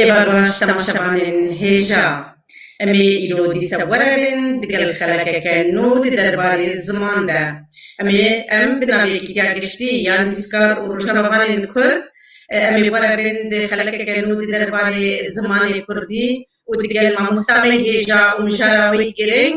Ê barbaş temaşevanên hêja em ê îro dîsa were bên digel xelekeke nû di derbarê ziman de. Em ê em bi navê Yekîtiya Giştî ya Nivîskar û Rojnamevanên Kurd em ê were bên di xelekeke nû di derbarê zimanê kurdî û digel mamosta me hêja û mijara wê girîng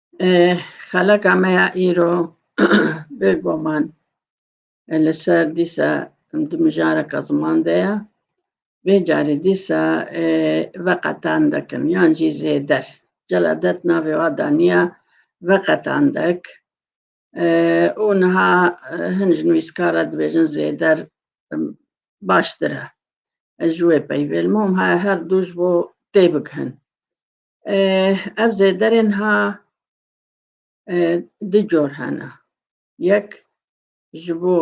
Xeleka me ya îro bêgoman li ser dîsa di mijareka ziman de ye. Vê carî dîsa veqetan dikin yan jî zêder. Celadet navê wa daniya veqetan dik û niha hin ji nivîskar re dibêjin zêder baştir e. Ez ji wê peyvêl mom her du ji bo tê bigihin. Ev zêderê niha du cor hene. Yek ji bo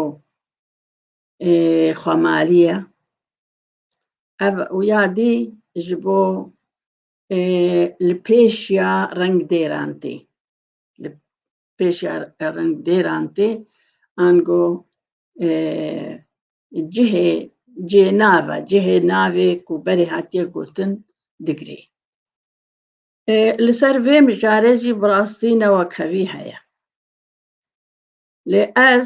xwemalî ye. Ev û ya dî ji bo li pêş ya rengdêran tê. pêşiya rindêran tê, ango cihê cihê nava, cihê navê ku berê hatiye gotin digirê. Li ser vê mijarê jî bi rastî newakevî heye. Lê ez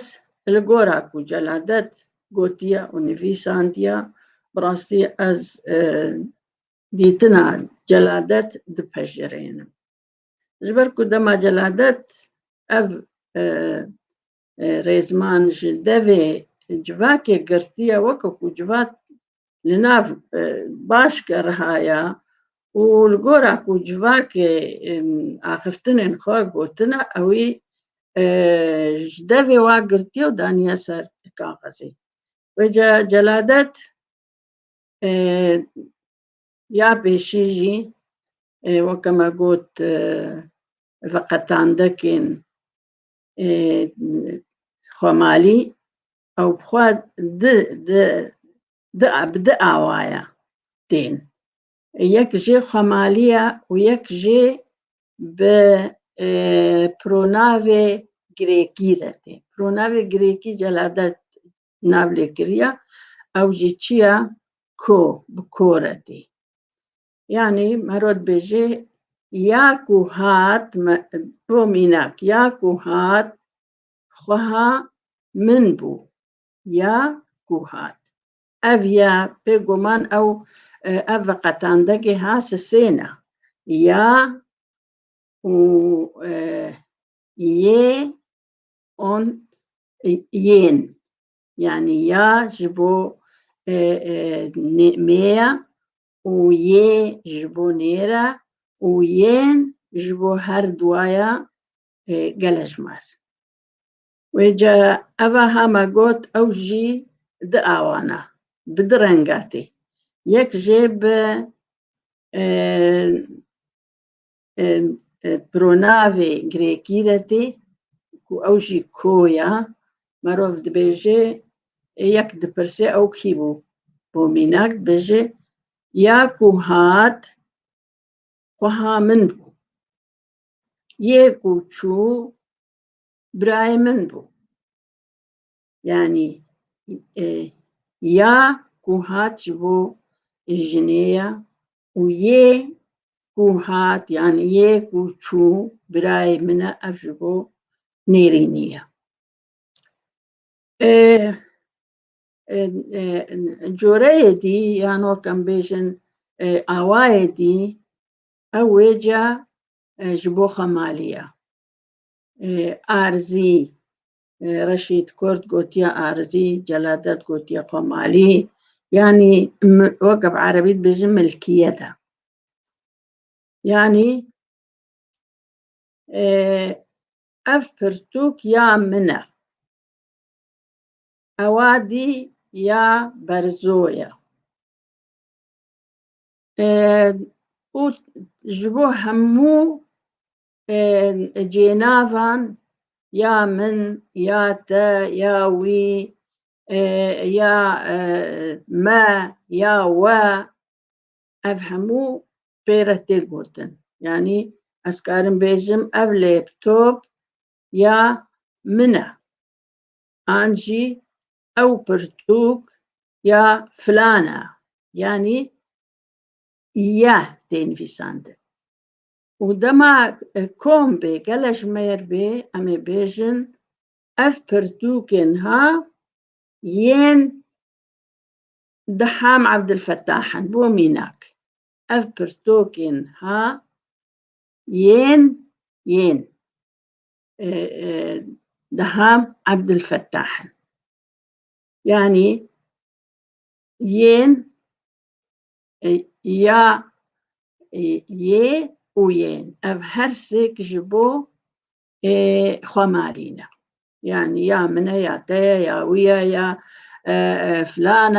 li gora ku Celadet gotiye û nivîsandiye, bi rastî ez dîtina Celadet dipejirênim. Ji ber ku dema celadet ev e, e, rêzman ji devê civakê girtiye weke ku civat li nav e, baş ke rihaya û li gora ku civakê e, axiftinên xwe gotina ewî e, ji devê wa girtiye û daniye ser kaxezê. Wê celadet Ya pêşî jî weke me got veqetandekên xwemalî ew bi xwe di di di bi di awaya tên. Yek jê xwemaliya û yek jê bi pronavê girêkî re tê. Pronavê girêkî celade nav lê kiriya ew jî çi ye ko bi ko re tê yanî mero dibêjê ya ku hat bo mînak ya ku hat xweha min bû ya ku hat ev ya pê goman ew e, ev veqetandegê ha sisêna ya û e, yê on yên yanî ya ji bo mêya û yê ji bo nêra û yên ji bo her duwaya gelejmar. Wê ca eva ha me got ew jî di awan a, bi di renga tê. Yek jê bi pronavê girêkî re tê ku ew jî ko ya merov dibêje yek dipirsê ew kî bû bo mînak dibêje ya ku hat xweha min bû yê ku çû birayê min bû yanî e, ya ku hat ji bo jinê ya û yê ku hat yan yê ku çû birayê min e ev ji bo nêrînî ye. Coreyê dî yan wek em bêjin awayê dî ew wêca ji bo xemalî ye. Arzî Reşîd Kurd gotiye arizî, Celadet gotiye komalî. Yanî weke bi erebî dibêjin milkiyet e. Yanî ev pirtûk ya min e. Ewa dî ya berzo ye. û ji bo hemû cênavan ya min ya te ya wî ya me ya we ev hemû pê re tê gotin yanî ez karim bêjim ev lêptop ya min e an jî ew pirtûk ya filan e yanî ya tê nivîsandin û dema kom bê gele ji me yer bê em ê bêjin ev pirtûkê niha yên Diham Ebdilfetah in bo mînak ev pirtûkê niha yên yên Diham Ebdilfetah in yanî yên ya yê û yên ev her sêk ji bo xwemarî ne yanî ya min e ya te ye ya wî ye ya filan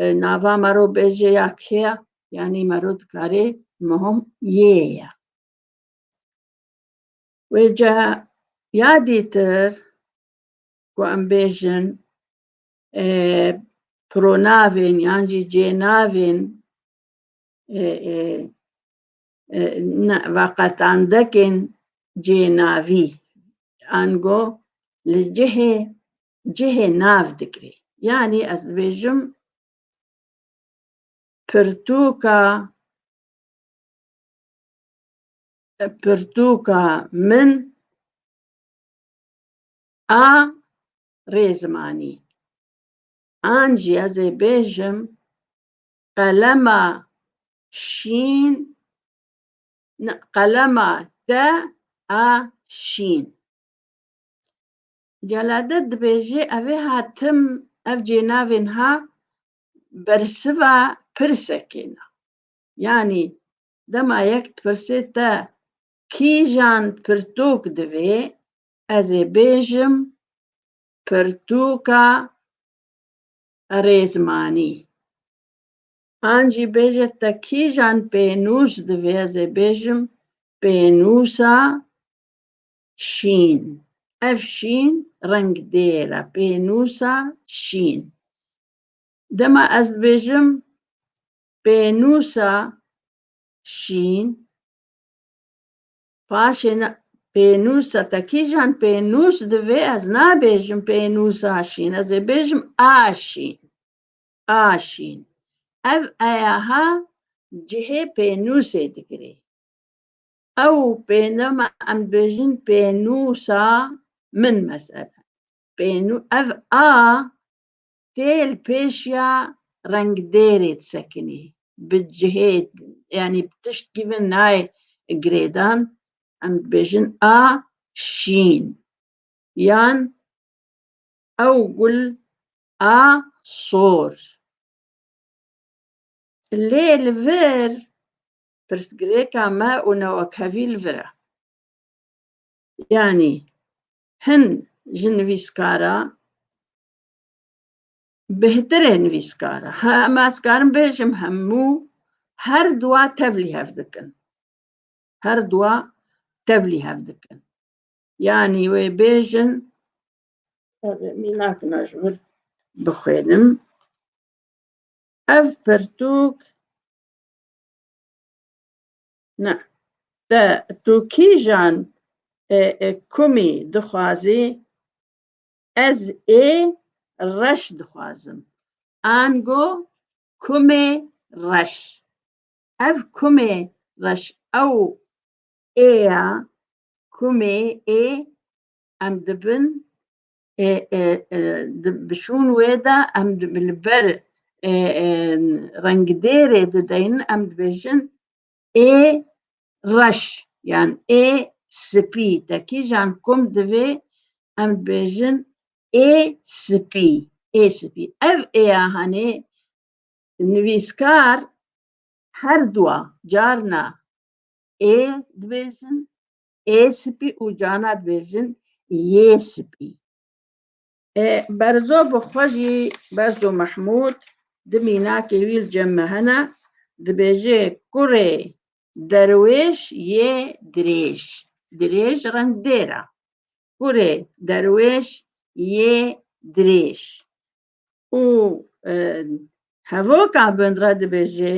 e nava mero bêje ya kê ye yanî mero dikarê mihom yê ye wê ca ya dîtir ku em bêjin pronavên yan jî cênavên veqetandekên cênavî ango li cihê cihê nav digrê. Yanî ez dibêjim pirtûka pirtûka min a rê zimanî. An jî ez ê bêjim qelema şîn qelema te a şîn. Celade dibêjê evê ha tim ev cênavên ha bersiva pirsekêna. Yanî dema yek dipirsê te kîjan pirtûk divê Ez ê bêjim pirtûka rêzmanî. An jî bêje te kîjan pênûs divê ez ê bêjim pênûsa şîn. Ev şîn reng dêr e pênûsa şîn. Dema ez dibêjim pênûsa şîn paşê ne pênûsa te kîjan pênûs divê ez nabêjim pênûsa şîn ez ê bêjim a şîn a şîn ev eyaha cihê pênûsê digirê ew pênema em dibêjin pênûsa min mesele pênû ev a tê li pêşiya rengdêrê disekinî bi cihê yanî bi tişt gîvin nayê girêdan em dibêjin a şîn yan ew gul a sor lê li vir pirsgirêka me û newekevî li vir e yanî hin ji nivîskara bihtirê nivîskar e. Hema ez karim bêjim hemû her dua tevlî hev dikin. Her dua tevlî hev dikin. Yanî wê bêjin mînakina ji wir bixwênim. Ev pirtûk ne te tu kîjan e, e, kumî dixwazî Ez ê reş dixwazim. Ango kumê reş. Ev kumê reş ew ê ya kumê ê em dibin ê ê bi şûn wê de em li ber rengidêrê dideynin em dibêjin ê reş yan ê spî te kîjan kom divê em dibêjin ê spî ê spî ev êya hanê nivîskar her dua carna ê dibêjin ê spî û carna dibêjin yê spî. Berzo bi xwe jî Berzo Mehmûd di mînakê wî li cem me hene, dibêje kurê derwêş yê dirêj, dirêj reng dêr e, kurê derwêş yê dirêj û hevoka bin re dibêje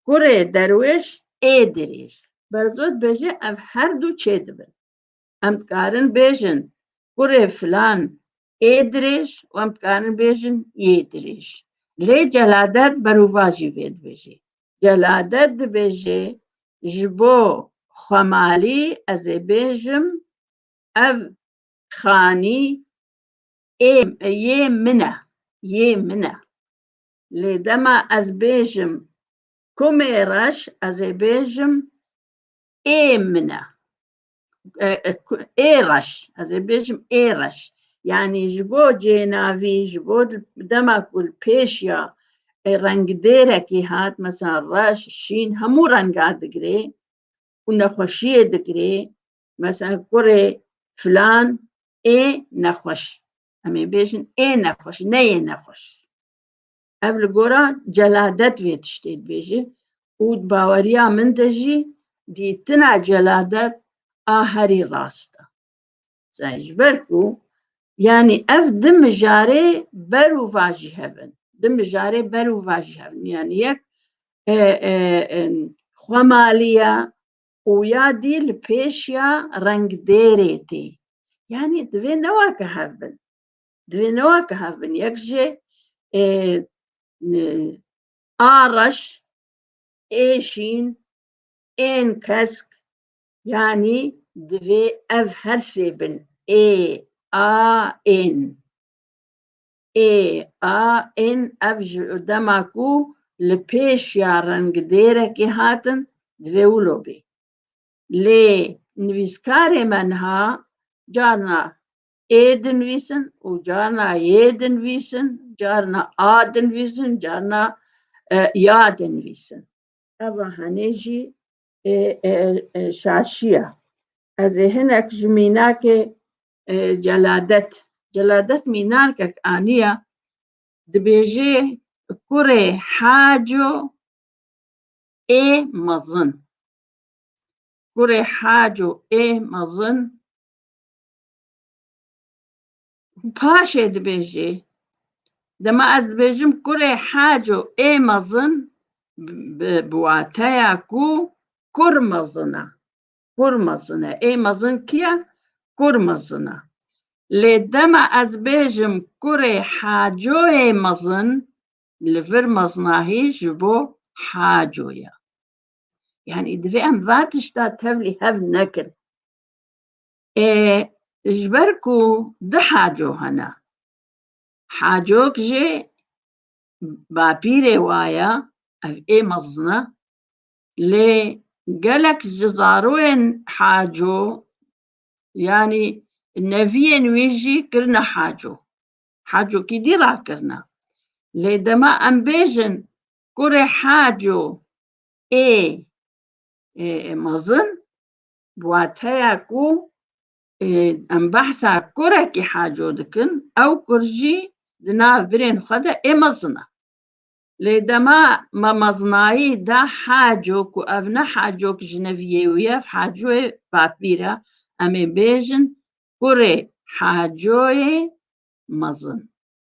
kurê derwêş ê dirêj. Berzo dibêje ev her du çêdibin. Em dikarin bêjin kurê filan ê dirêj û em dikarin bêjin yê dirêj. Lê celadet berûva jî vê dibêjê. Celadet dibêjê ji bo xwemalî ez ê bêjim ev xanî ê yê min e, yê min e. Lê dema ez bêjim kumê reş ez ê bêjim ê min e. êreş ez ê bêjim êreş yanî ji bo cênavî ji bo dema ku li pêş ya rengdêrekî hat mesela reş şîn hemû renga digirê û nexweşiyê digirê mesela kurê filan ê nexweş em ê bêjin ê nexweş neyê nexweş Ev li gora celadet vê tiştê dibêje û di baweriya min de jî dîtina celadet a herî rast e. Zay ji ber ku yanî ev di mijarê ber û va jî hev in. Di mijarê ber û va jî hev in. Yanî yek xwemalî ye û ya dî li pêş ya rengdêrê tê. Yanî divê ne weke hev bin. Divê neweke hev bin yek jê a reş ê şîn ên kesk yanî divê ev her sê bin ê a ên ê a ên ev ji dema ku li pêş ya rengidêrekê hatin divê wilo bê lê nivîskarê me niha carna ê dinivîsin û carna yê dinivîsin, carna a dinivîsin, carna e, ya dinivîsin. Eva henê jî e, e, e, şaşiya. Ez ê hinek ji mînakê e, celadet. Celadet mînarkek aniya dibêjê kurê haco ê mezin. Kurê haco ê mezin Paşê dibêjê dema ez dibêjim kurê heco ê mezin bi wateya ku kur mezin e. Kur mezin e. Ê mezin kî ye? Kur mezin e. Lê dema ez bêjim kurê heco ê mezin li vir mezinahî ji bo heco ye. Yani divê em va tişta tevlî hev nekin. Ê ji ber ku du haco hene. Hacok jê bapîrê waye ev ê mezin e lê gelek ji zaroyên haco yanî neviyên wî jî kirine haco. Hacokî dî rakirine. Lê dema em bêjin kurê haco ê mezin bi wateya ku em behsa kurekî haco dikin ew kur jî di nav birên xwe de ê mezin e. Lê dema me mezinayî da haco ku ev ne hacok jineviyê û yev hacoyê papîr e, em ê bêjin kurê hacoyê mezin.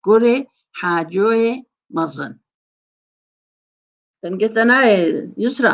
Kurê hacoyê mezin. Dengê te nayê Yusra.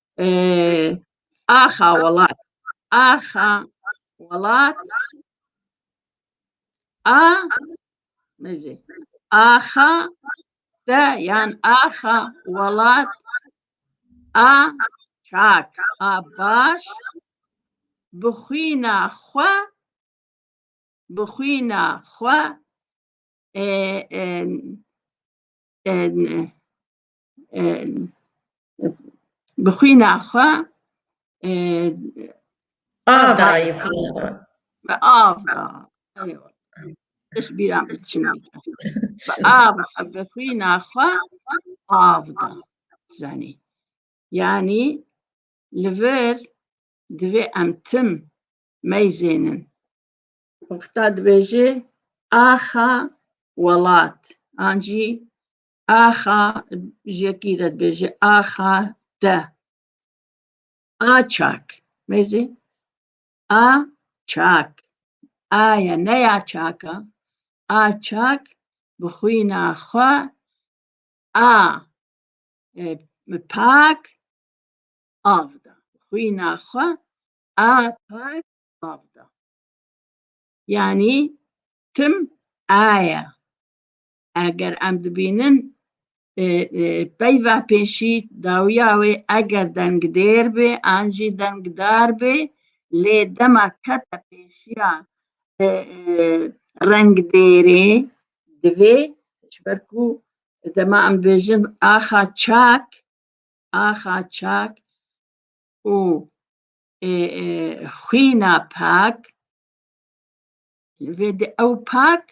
Axa welat. Axa welat. A mezi. Axa te yan axa welat. A çak. A baş. Bixwîna xwe. Bixwîna xwe. E, e, e, bi xwîna xwe av dayî xwîna xwe av Eş bîra min çima av bi xwîna xwe av da zanî yanî li vir divê em tim meyzênin wexta dibêjê axa welat an jî Axa jekî re dibêje axa te. Açak. Mêzî. A çak. Aya neya çaka. A çak bi xwîna xwe a e, pak av da. Xwîna xwe a pak av da. Yani tim aya eger em dibînin peyva pêşî dawiya wê eger dengdêr bê an jî dengdar bê lê dema kete pêşiya rengdêrê divê ji ber ku dema em bêjin axa çak axa çak û xwîna pak vê di ew pak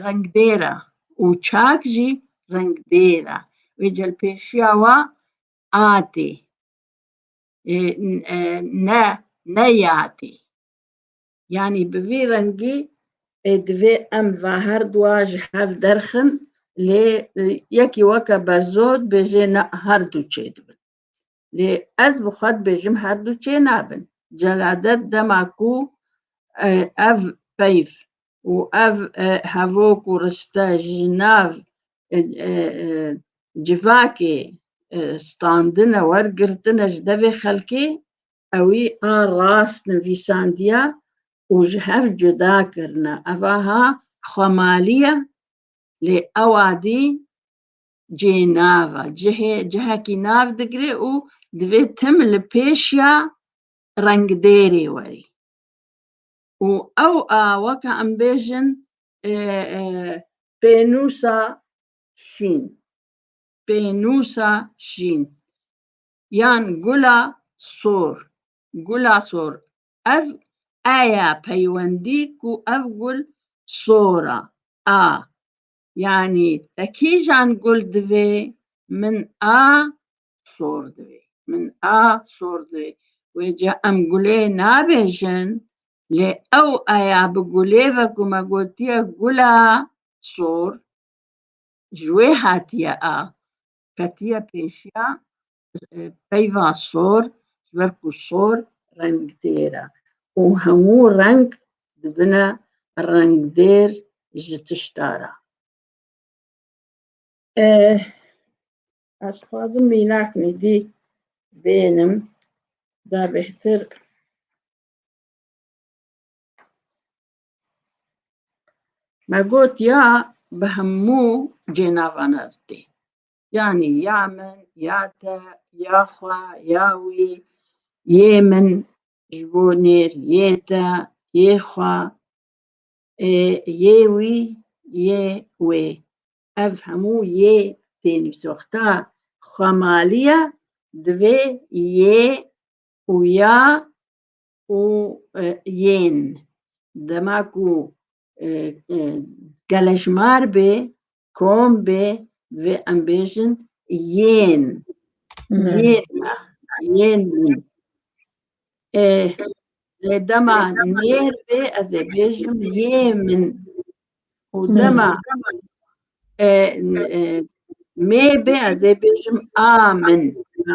rengdêra û çak jî rengdêra wê celpêşiya wa atê ne ne yatê yanî bi vî rengî divê em va her dua ji hev derxin lê yekî weke berzo dibêjê na her du çêdibin Lê ez bi xwe dibêjim her du çê nabin. Celadet dema ku ev peyv û ev hevok û riste ji nav civakê standine wergirtine ji devê xelkê ewî a rast nivîsandiya û ji hev cuda kirine. Ev aha xwemalî ye lê ew adî cihê nav e. Cihê cihekî nav digire û divê tim li pêş ya rengdêrê werî. Û ew a weka em bêjin e, e, pênûsa şîn. Pênûsa şîn. Yan gula sor. Gula sor. Ev eya peywendî ku ev gul sor a. A. Yanî te kîjan gul divê min a sor divê. Min a sor divê. Wê ca em gulê nabêjin lê ew aya bi gulê ve ku me gotiye gula sor ji wê hatiye a. Ketiye pêşiya peyva sor ji ber ku sor rengdêr e û hemû reng dibine rengdêr ji tişta re. Ez xwazim mînak nîdî bênim da bêhtir me got ya bi hemû cênavan re didê. Yanî ya min, ya te, ya xwe, ya wî, yê min, ji bo nêr, yê te, yê xwe, ê, yê wî, yê wê. Ev hemû yê tên soxta. Xwemalîya divê yê û ya û yên dema ku geleşmar bê kombê vê em bêjin yên yên me yên min ê lê dema nêr bê ez ê bêjim yê min û dema e, e, mê bê ez ê bêjim a min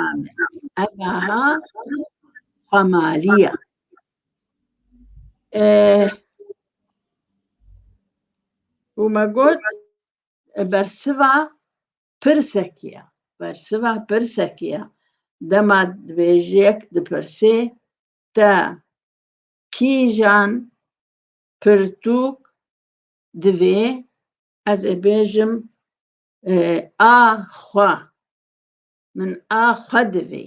a min ev aha xwemaliya û me got bersiva pirsekî ye bersiva pirsekî ye dema dibêjiyek dipirsê te kîjan pirtûk divê ez ê bêjim a xwe min a xwe divê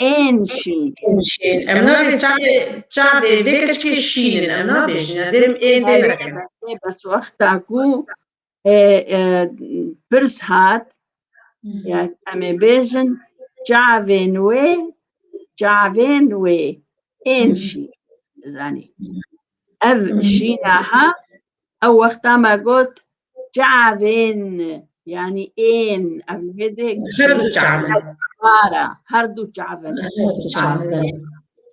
ên şîn. Ên şîn. Em nabê çavê çavê vê keçikê şîn in. Em nabêjin. Em dê ên dê nekin. Lê bes wexta ku e, e, pirs hat ya em ê bêjin çavên wê çavên wê ên şîn. Zanî. Ev şîna ha Ew wexta me got çavên yanî ên ev li vê dê Her du çavin. para her du çavin. Her du çavin.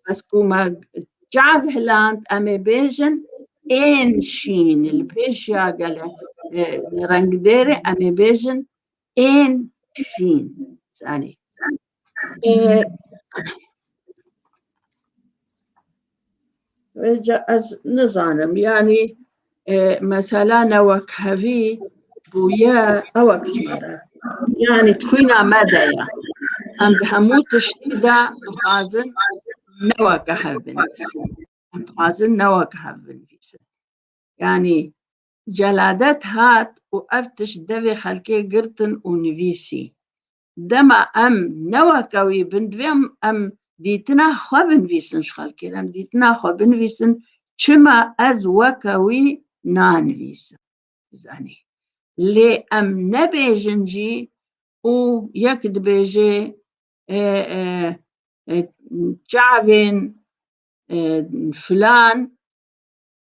Ez ku me çav hiland em ê bêjin ên şîn li pêşiya gele e, rengdêrê em ê bêjin Ên şîn zanî. Rica ez nizanim yani e, mesela ne wek hevî bûye ewe kişmere. Yani xwîna me de ye. Em di hemû tiştî de dixwazin ne weke hev binivîsin. Em dixwazin ne weke hev binivîsin. Yani Celadet hat û ev tişt devê xelkê girtin û nivîsî. Dema em neweke wî bin divê em dîtina xwe binivîsin ji xelkê re. Em dîtina xwe binivîsin çima ez weke wî nanivîsim. Zanî. Lê em nebêjin jî û yek dibêjê çavên filan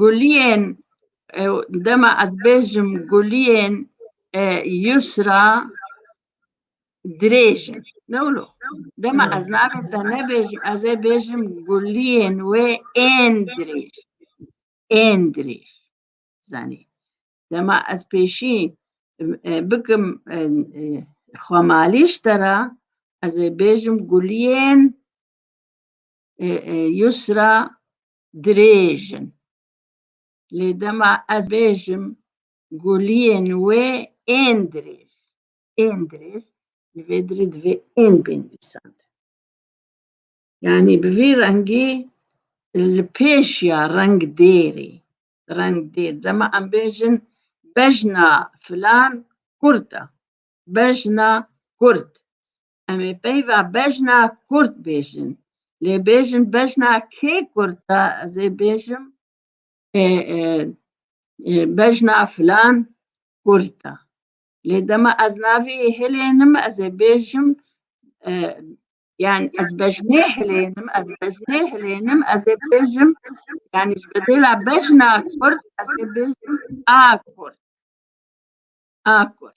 Guliyên dema ez bêjim guliyên Yusra dirêj in. Ne wilo. Dema ez navê te nebêjim ez ê bêjim guliyên wê ên dirêj. Ên dirêj. Zanî. Dema ez pêşî bikim xwemalîş te re ez ê bêjim guliyên Yusra dirêj in. Lê dema ez bêjim guliyên wê ên dirêj, ên dirêj li vê dirê divê ên bên nivîsandin. Yanî bi vî rengî li pêş ya reng dêrê, reng dêr. Dema em bêjin bejna filan kurt e, bejna kurt. Em ê peyva bejna kurd bêjin. Lê bêjin bejna kê kurd e ez ê bêjim bejna filan kurd e. Lê dema ez navê hilênim ez ê bêjim yani ez bejnê hilênim ez bejnê hilênim ez ê bêjim yani ji bedêla bejna kurd ez ê bêjim a kurd. A kurd.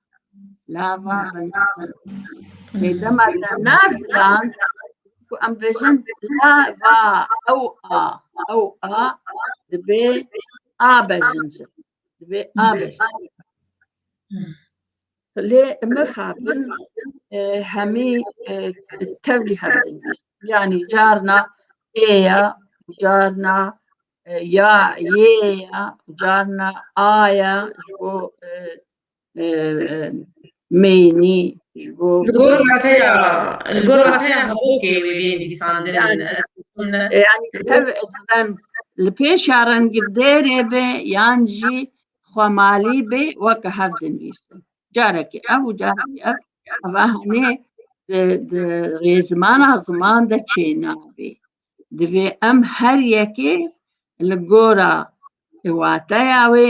Lava Bêdema te nav lan ku em bêjin lava ew a ew a dibê a bejin ji dibê a bejin. Lê mixabin hemî tevlî hebin yanî carna ê ya carna ya yê ya carna a ya ji bo meyînî ji bo Li gor rateya li gor rateya hevokê wê bên dîsandin Yani- ez yani ev ezben li pêşa rengî dêrê be yan jî xwemalî be weke hev dinivîse. Carekê ev û carekê ev eva henê di di rêzimana ziman de çênabê. Divê em her yekê li gora wateya wê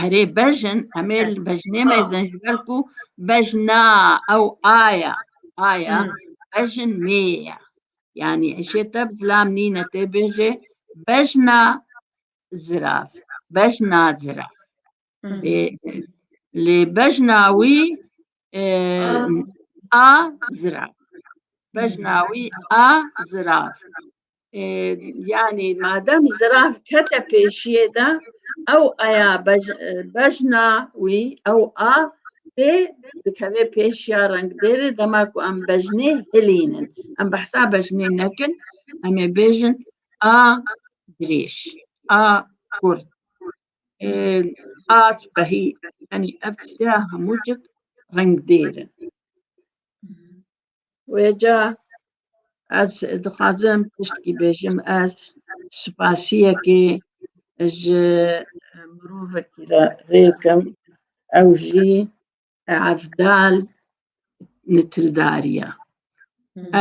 Herê bejin emê bejinê me zin ji ber ku bejna ew aya aya bejin mê ye. Yani eşê te bi zilam nîne tê bêjê bejna ziraf bejna ziraf. Lê bejna wî a ziraf. Bejna wî a ziraf. yani madem zirav kete pêşiyê de ew aya bejna wî ew a tê dikevê pêşiya rengdêrê dema ku em bejnê hilînin em behsa bejnê nekin em ê bêjin a dirêj a kurd a spehî yani ev tiştiya hemû cik rengdêrin Wêca ez dixwazim tiştekî bêjim ez spasiyekê ji mirovekî re rêkim ew jî Evdal Nitildariya.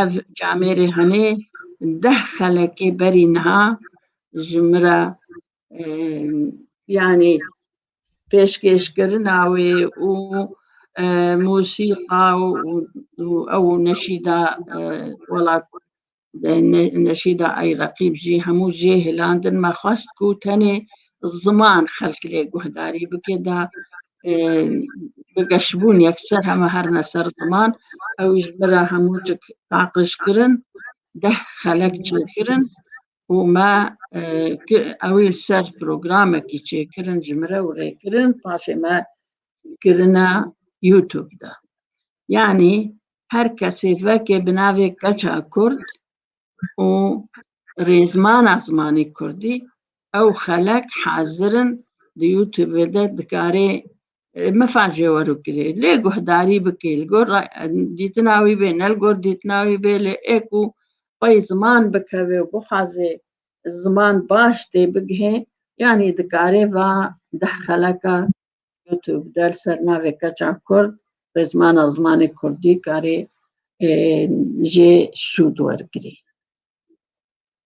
Ev camêrê henê deh xelekê berî niha ji min re yani pêşkêşkirina wê û e, musîqa û ew neşîda e, welat e, neşîda ay reqîb jî hemû jê hilandin me xwest ku tenê ziman xelk lê guhdarî bike da bi geşbûn yekser heme her ne ser ziman ew ji bira hemû cik taqij kirin deh xelek çêkirin û me ew ê li ser programekî çêkirin ji min re û rêkirin paşê me kirine YouTube de. Yanî her kesê vekê bi navê Keça Kurd û rêzmana zimanê Kurdî ew xelek hazir in di YouTube de dikarê Mifacê wero kirê. Lê guhdarî bikê. Li gor dîtina wî bê, ne li gor dîtina wî bê lê ê ku xwe yê ziman bikevê û bixwazê ziman baş tê bigihê yanî dikarê va deh xeleka YouTube de li ser navê keça Kurd bi zimana zimanê Kurdî karê jê sûd wergirê.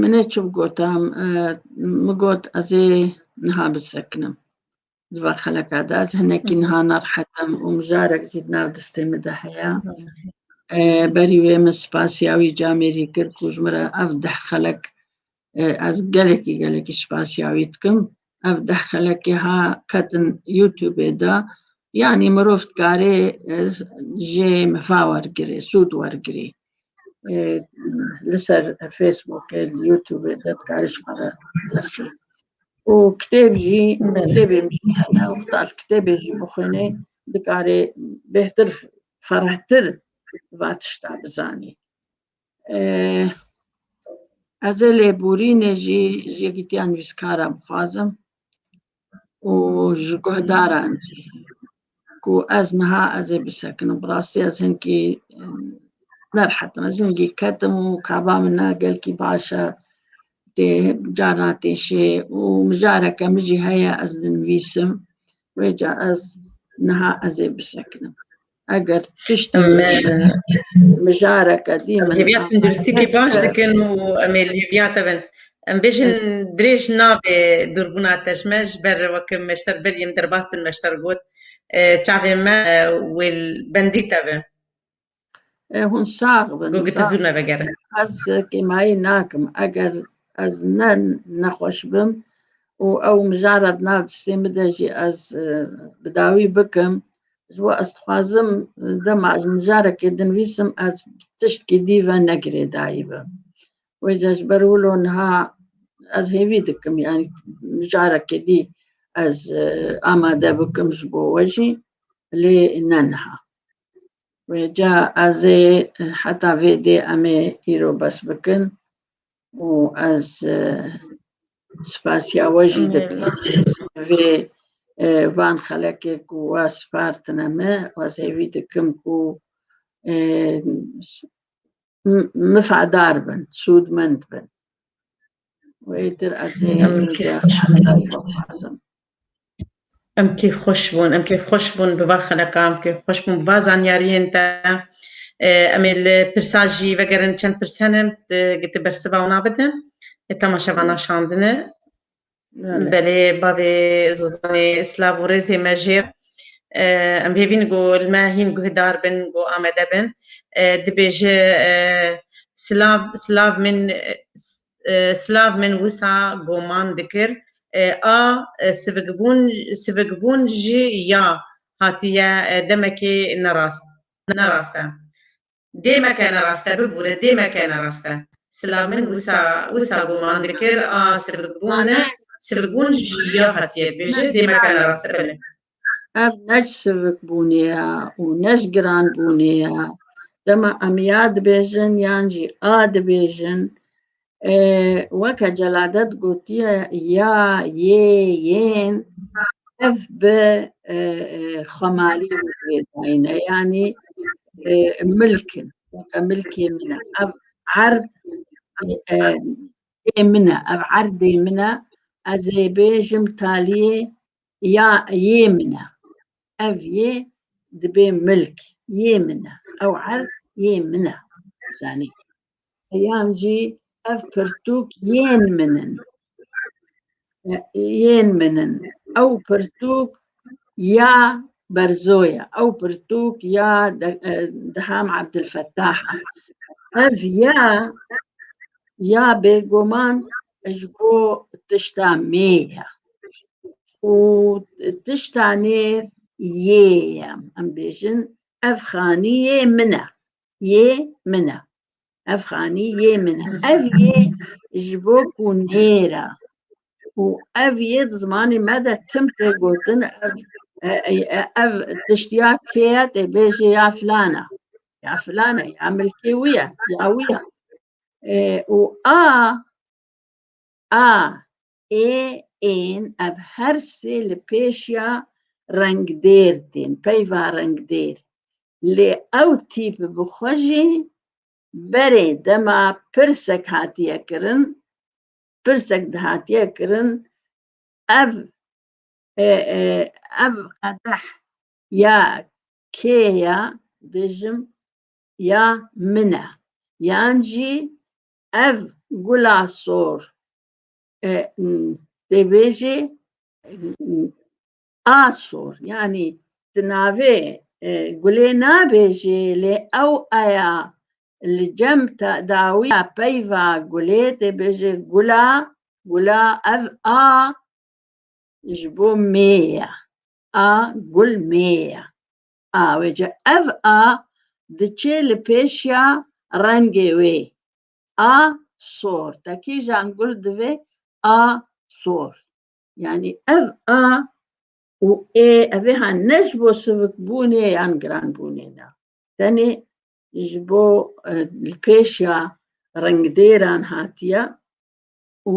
Min ê çi bigota, min got ez ê niha bisekinim. Di va xeleka de ez hinekî niha nerehetim û mijarek jî di nav distê min de heye. Berî wê min spasiya wî camêrî kir ku ji min re ev deh xelek ez gelekî gelekî spasiya wî dikim. ev deh xelekê ha ketin YouTubeê de yanî mirov dikarê jê mifa wergirê sûd wergirê li ser Facebookê li YouTubeê de dikarê ji xwe re derxê û kitêb jî kitêbê min jî hene û heta li kitêbê jî bixwînê dikarê bêhtir ferehtir va tişta bizanî Ez ê lêborînê jî ji yekî tîya nivîskara bixwazim û ji guhdaran jî ku ez niha ez ê bisekinim. Bi rastî ez hinkî nerhetim. Ez hingî ketim û kaba min na gelkî baş e. Tê carna tê şê û mijareke min jî heye ez dinivîsim. Wê ca ez niha ez ê bisekinim. eger tiştî me mijareke dî min hêviya tunduristîkê baş dikin û em ê li hêviya te bin em bêjin dirêj nabê dûrbûna te ji me ji ber weke meşter ber yên derbas bin meşter got çavê me wê bendî te bin hûn sax bin got tu zû nevegerin ez kêmayî nakim eger ez ne nexweş bim û ew mijara di nav distê min de jî ez bi dawî bikim Ji we ez dixwazim dema ez mijarekê dinivîsim ez tiştkî dî ve ne girêdayî be. Wê ca ji ber wilo niha ez hêvî dikim yanî mijarekê dî ez amade bikim ji bo we jî lê ne niha. Wê ca ez ê heta vê dê em ê îro bes bikin. û ez spasiya we jî dikim vê van xelekê ku we spartine me ez hêvî dikim ku mifadar bin sûdmend bin wê tir ez hêvî dixwazim Em kêf xweş bûn, em kêf xweş bûn bi va xeleqa, em kêf xweş bûn bi va zanyariyên te. Em ê li pirsa jî vegerin çend pirs hene tu bersiva wan bide. Temaşa vana şandine. Belê bavê Zozanê silav û rêzê me jê. Em hêvîn ku li me hîn guhdar bin ku amade bin. Dibêje silav silav min silav min wisa goman dikir A sivikbûn sivikbûn jî ya hatiye demekê nerast nerast e. Dê meke nerast e bibûre dê meke nerast e. Sila min wisa wisa guman dikir a sivikbûn e sivikbûn jî ya hatiye dibêje dê meke nerast e bile. Ev ne ji şirikbûnê ye û ne ji giranbûnê ye. Dema em ya dibêjin yan jî a dibêjin, e, weke Celadet gotiye ya, yê, yên ev bi e, e, xwemalî rê dayîne yanî e, milk in. Weke milkê min e. Ev erd e, ê min e, ev erdê min e. Ez ê bêjim taliyê ya yê min e. Ev yê dibê milk yê min e. Ew erd yê min e. Zanî. Yan jî ev pirtûk yên min in. E, Yên min in. Ew pirtûk ya Berzo ye. Ew pirtûk ya De- e, Diham Abdulfettah e. Ev ya ya bêguman ji bo tişta mê ye û tişta nêr yê ye em bêjin ev xanî yê min e yê min e ev xanî yê min e ev yê ji bo ku nêr e û ev yê di zimanê me de tim tê gotin ev ev tiştiya kê ye tê bêjê ya filan e ya filan e ya milkê wî ye ya wî ye û a a ê ên ev her sê li pêşiya rengdêr tên, peyva rengdêr. Lê ew tîp bi xwe jî berê dema pirsek hatiye kirin, pirsek dihatiye kirin ev ev qedeh ya kê ya dijim ya min e yan jî ev gula sor tê bêjê a sor yanî di navê gulê nabêjê lê ew aya li cem dawiya peyva gulê tê bêjê gula gula ev a ji bo mêya a gul mêya Awêce ev a diçê li pêşiya rengê wê. A sor. Te kîjan gul divê? A sor. Yanî ev a û ê evê ha ne ji bo sivikbûnê yan giranbûnê ne. Tenê ji bo e, li pêşiya rengdêran hatiye û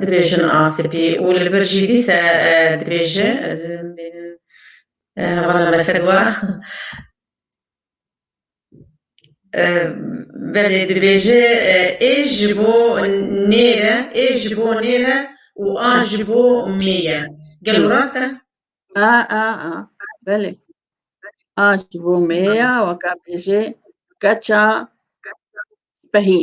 Dibêjin a spî û li vir jî dîse dibêje ez hevala me fedwa belê dibêje ê ji bo nêre ê ji bo nêre û a ji bo mê ye. Gelo rast e? A a a belê a ji bo mê ye weka bêje keça spehî.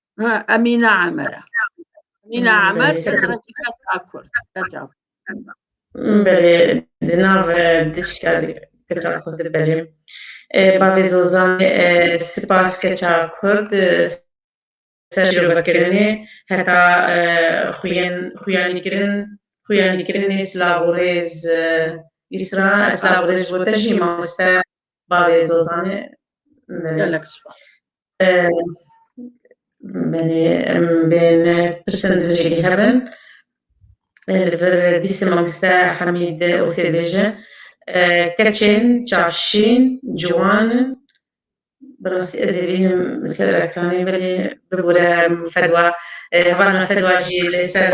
Emîne Emer e. Emîne Emer serekîka Kurd. Qeca. Belê, di nav diçka keça Kurd belê. Bavê Zozanê sipas keça Kurd ser şirovekirinê heta xuyanîkirin xuyanîkirinê silavorêz îsra silavorêz ji bo te jî mamoste Bavê Zozanê gelek spa. Benê em bên pirsin dijî hebin. Li vir dîsê mamiste Hemîd Osê bêje keçên çavşîn ciwan in. Bi rastî ez ê bînim li ser ekranê belê bibûre fedwa hevalna fedwa jî li ser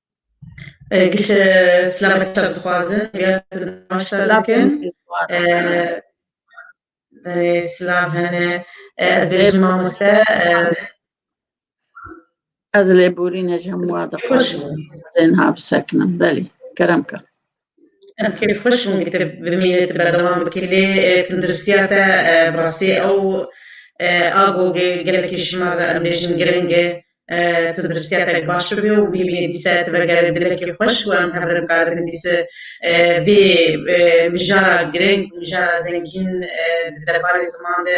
Kişe selamet çar dixwazin ya tu namaşta dikin. Berê selam hene ez bêjim mamoste ez lê borîne ji hemû wa dixwazim zênha bisekinim belê kerem ka. Em kêfxweş in ku tu bimînî, tu berdewam bikî lê tunduristiya te bi rastî ew a ku gelekî ji me re em bêjin giring e. Tunduristiya te baş bibe û bimînî dîsa tu vegerî dilekî xweş û em hev re bikarbin dîsa vê mijara giring û mijara zengîn di derbarê ziman de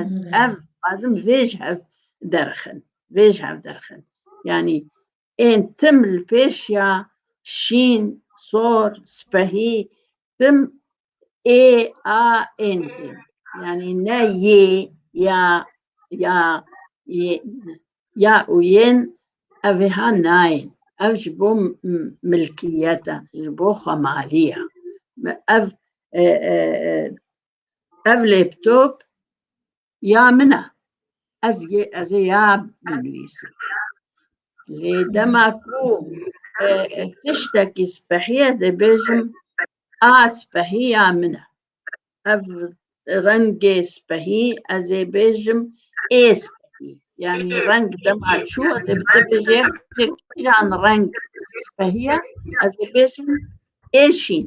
Ez ev azim vêj hev derxin. Vêj hev derxin. Yani ên tim li pêş ya şîn, sor, spehî tim ê a ên ên. Yani ne yê ya ya ya û yên evê ha nayên. Ev ji bo milkiyete, ji bo xwemalî ye. Ev Ev laptop ya min e. Ez yê ez ê ya binivîsim. Lê dema ku e, e, tiştekî spehî ez ê bêjim a spehî ya min e. Ev rengê spehî ez ê bêjim ê spehî. Yani reng dema çû ez ê bi te bêjê hezê kîjan reng spehî ye ez ê bêjim ê şîn.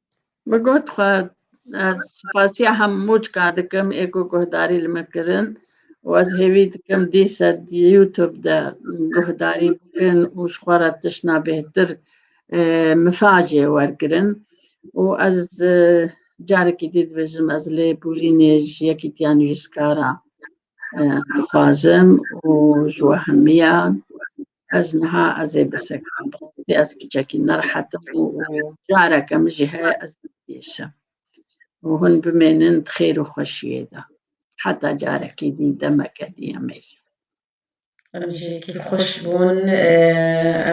Min got xwe ez spasiya hemû çika dikim ê ku guhdarî li min kirin û ez hêvî dikim dîsa di YouTube de guhdarî bikin û ji xwe re tiştna bêhtir mifacê wergirin û ez carekî dî dibêjim ez lêbûrînê ji yekî tiya nivîskara dixwazim û ji we hemiyan Ez niha ez ê bisekim bi rastî ez biçekî nerehet im û careke min jî heye ez nibêsim û hûn bimênin di xêr û xweşiyê de heta carekî dî demeke dî em ê Em jî kî xweş bûn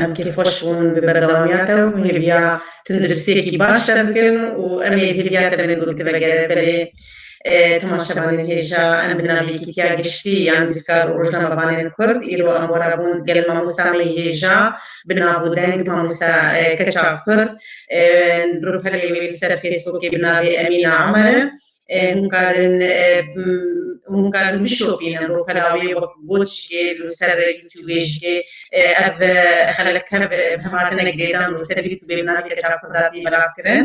em kî xweş bûn bi berdewamiya te û hêviya tunduristiyekî baş te bikin û em ê hêviya te bên gul tivegere belê Temaşevanên hêja em bi navê Yekîtiya Giştî yan Bîskar û Rojnamevanên Kurd îro ambora bûn digel mamosta me yê hêja bi nav û deng Mamosta Keça Kurd rûpelê wê li ser Fêsbûkê bi navê Emîna Omer e. Hûn karin hûn karin bişopînin rûpela wê wek got jî li ser Youtubê jî ev xelek tev bi hev hatine girêdan li ser Youtubê bi navê Keça Kurd hatî belavkirin.